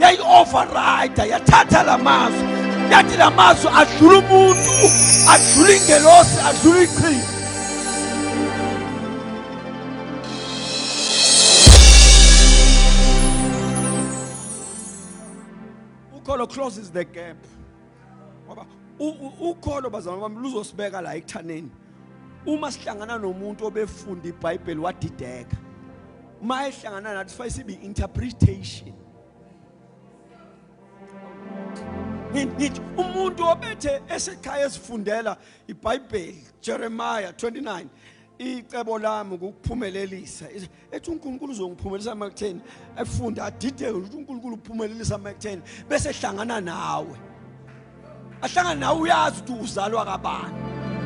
yayi-overrida yathatha la mazwi yathi la mazwi adlula umuntu adlula ingelosi adlula iqhinga ukholo closes the gap ngoba ukholo bazalwane bami luzosibeka la ekuthaneni uma sihlangana nomuntu obefunda iBhayibheli wadideka uma ehlangana nathi sifanele sibe interpretation ngithi umuntu obethe esekhaya esifundela iBhayibheli Jeremiah 29 icebo lami ukuphumelelisa ethi uNkulunkulu uzongiphumelisa emakutheni afunde adideke ukuthi uNkulunkulu uphumelelisa emakutheni bese ehlangana nawe ahlangana nawe uyazi ukuthi uzalwa kabani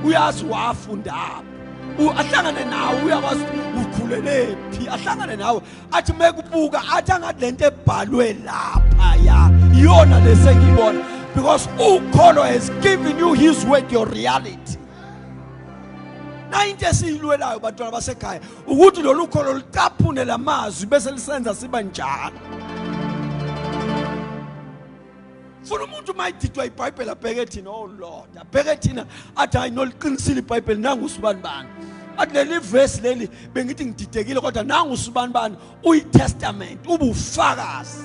uyazi wafundaphi ahlangane nawe uyakwazi ukhulele phi ahlangane nawe athi mekubuka athi angathi lento ebhalwe lapha ya iyona lesengiyibona because ukholo has given you his word your reality nayinto esiyilwelayo bantwana basekhaya ukuthi lolu kholo lucaphune la mazwi bese lisenza siba njalo funa umuntu uma ididwa ibhayibheli abheke thina oh lord abheke thina athi hayi noliqinisile ibhayibheli nangu usibani bani athi leli vesi leli bengithi ngididekile kodwa nangu usibani bani uyitestament ubufakazi